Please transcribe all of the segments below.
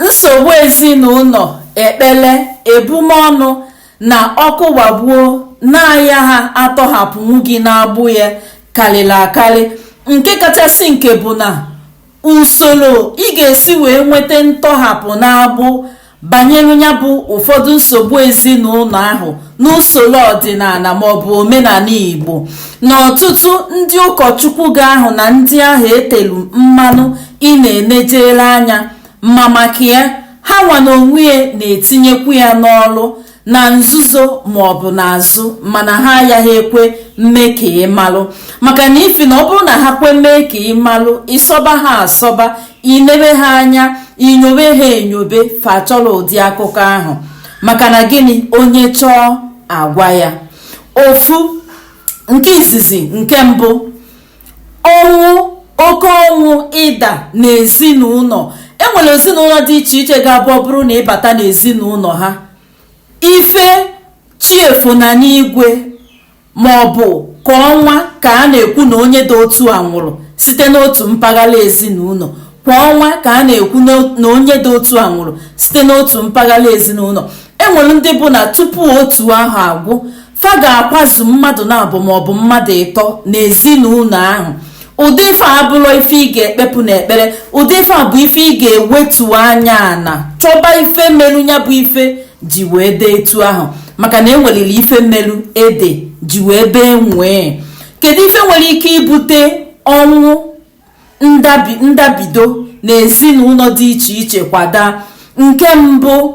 nsogbu ezinụlọ ekpere ebumọnụ na ọkụ gbagbuo na-ayaha atọhapụnwu gị n'agbụ ya karịrị akarị nke kachasị nke bụ na usoro ị ga-esi wee nweta ntọhapụ n'agbụ banyere ya bụ ụfọdụ nsogbu ezinụlọ ahụ n'usoro ọdịnala maọbụ omenala igbo na ọtụtụ ndị ụkọchukwu ga ahụ na ndị ahụ etelu mmanụ ị na-enejere anya ma maka ya ha nwa na onwe ya na-etinyekwu ya n'ọrụ na nzuzo maọbụ n'azụ mana ha ayaha ekwe mme ka ị malụ maka na ifi na ọ bụrụ na ha kwe mee ka ị malụ ị sọba ha asọba i nebe ha anya i nyobe ha enyobe fa achọrọ ụdị akụkọ ahụ maka na gịnị onye chọọ a gwa ya ofu nke izizi nke mbụ ọnwụ oke ọnwụ ịda n'ezinụlọ enwere ezinụlọ dị iche iche ga-abụ ọ bụrụ na ịbata n'ezinụlọ ha ife chi efo na n'igwe ma ọ bụ kwa ọnwa ka a na-ekwu na onye dị otu a nwụrụ site n'otu mpaghara ezinụlọ kwa ọnwa ka a na-ekwu na onye dị otu a nwụrụ site n'otu mpaghara ezinụlọ enwere ndị bụ na tupu otu ahọ agwụ fa ga-akwazu mmadụ naabọ maọbụ mmadụ ịtọ n'ezinụlọ ahụ ụdị ife a abụrọ ife ị ga-ekpepụ n'ekpere ụdị ife a bụ ife ị ga-ewetu anya ana chọba ife melu ya bụ ife ji wee dị etu ahụ maka na enweliri ife melu ede ji wee bee nwee kedu ife nwere ike ibute ọnwụ ndabido na ezinụlọ dị iche iche kwa daa nke mbụ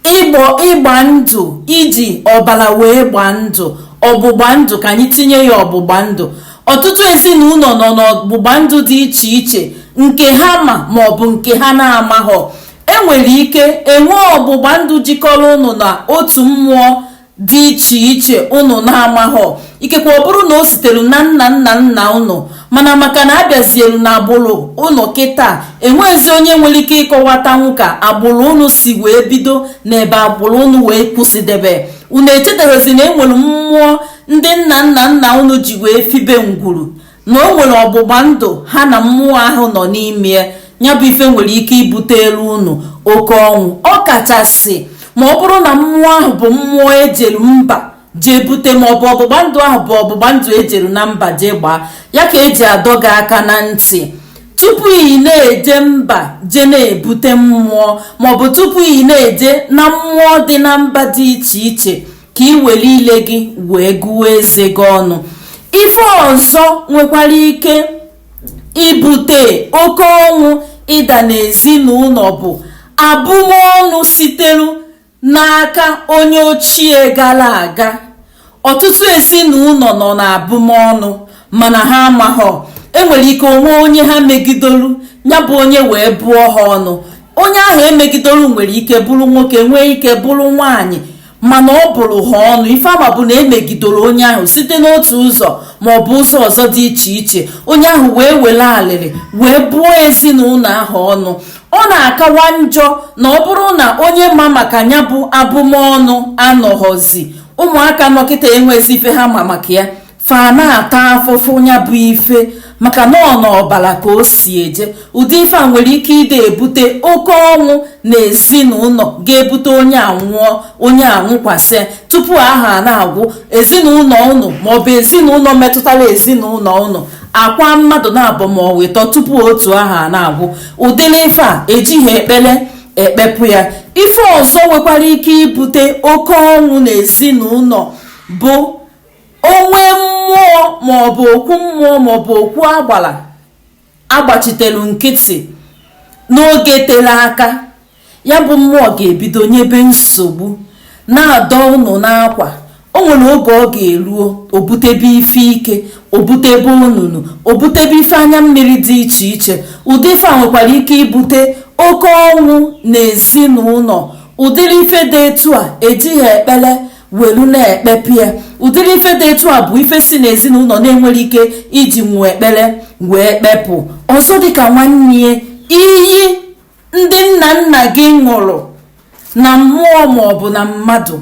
ịgba ndụ iji ọbara wee gbaa ndụ ọgbụgba ndụ ka anyị tinye ya ọgbụgba ndụ ọtụtụ ezinụlọ nọ n'ọgbụgba ndụ dị iche iche nke ha ma maọbụ nke ha na-amaghọ e nwere ike enwee ọgbụgba ndụ jikọrọ ụnụ na otu mmụọ dị iche iche ụnụ na-amaghọ ikekwe ọ bụrụ na o sitere na nna nna nna ụnụ mana maka na a bịazielu na agbụrụ ụnụ kịta enweghịzi onye nwere ike ịkọwatanwu ka agbụrụ ụnụ si wee bido na ebe agbụrụ ụnụ wee kwụsịdebe unu echetaghịzi na enwere mmụọ ndị nna nna nna unu ji wee fibe ngwuru na o nwere ọgbụgba ndụ ha na mmụọ ahụ nọ n'ime ya bụ ife nwere ike ibutelu unu oke ọnwụ ọ kachasị ma ọ bụrụ na mmụọ ahụ bụ mmụọ ejelu mba jee bute ma ọ bụ ọgbụgba ndụ ahụ bụ ọgbụgba ndụ ejelu na mba jee gbaa ya ka eji adọ gị aka na ntị tupu ị na-eje mba jee na-ebute mmụọ maọbụ tupu ị na-eje na mmụọ dị na mba dị iche iche ka i were ile gị wee gụọ eze gị ọnụ ife ọzọ nwekwara ike ibute oke ọnwụ ịda n'ezinụlọ bụ abụmọnụ sitere n'aka onye ochie gara aga ọtụtụ ezinụlọ nọ n'abụmọnụ mana ha amaghọ enwere ike o nwee onye ha megidolu ya bụ onye wee bụọ ha ọnụ onye ahụ emegidolu nwere ike bụrụ nwoke nwee ike bụrụ nwaanyị mana ọ bụrụ ha ọnụ ife a ma bụ na emegidoro onye ahụ site n'otu ụzọ ma ọ bụ ụzọ ọzọ dị iche iche onye ahụ wee were alịrị wee bụọ ezinụlọ ahụ ọnụ ọ na-akawa njọ na ọ bụrụ na onye ma maka ya bụ abụmọnụ anọghọzi ụmụaka nọ kịta enwezi ife ha ma maka ya fa na-ata afụfụ ya bụ ife maka na ọ n'ọbara ka o si eje ụdị ife a nwere ike ịdị ebute oke ọnwụ na ezinụlọ ga-ebute onye anwụọ onye anwụkwasị tupu ahọ na-agwụ ezinụlọ ụnụ maọbụ ezinụlọ metụtara ezinụlọ ụnụ akwa mmadụ naabọ maọbụ ịtọ tupu otu ahọ na-agwụ ụdịrị ife a ejighị ekpere ekpepụ ya ife ọzọ nwekwara ike ibute oke ọnwụ na ezinụlọ bụ o nwee mmụọ maọbụ okwu mmụọ maọbụ okwu agbara a gbachitelu nkịtị n'oge tere aka ya bụ mmụọ ga-ebido nyebe nsogbu na-adọ ụnụ n'akwa o nwere oge ọ ga-eruo o butebe ife ike o butebe ọnwụnwụ o butebe ife anya mmiri dị iche iche ụdị ife a nwekwara ike ibute oke ọnwụ na ezinụlọ ụdịrị ife dị etu a ejighị ekpere welu na-ekpepụ ya ụdịrị ife dị etu a bụ ife si n'ezinụlọ na-enwere ike iji nwee ekpere wee kpepụ ọzọ dịka nwanne iyi ndị nna nna gị ṅụrụ na mmụọ maọbụ na mmadụ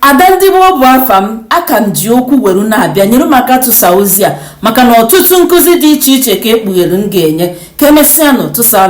ada ndị igbo bụ afa m aka m ji okwu were na-abịa nyere m aka tụsa ozi a maka na ọtụtụ nkụzi dị iche iche ka ekpughere m ga-enye ka emesịa nụ tụsa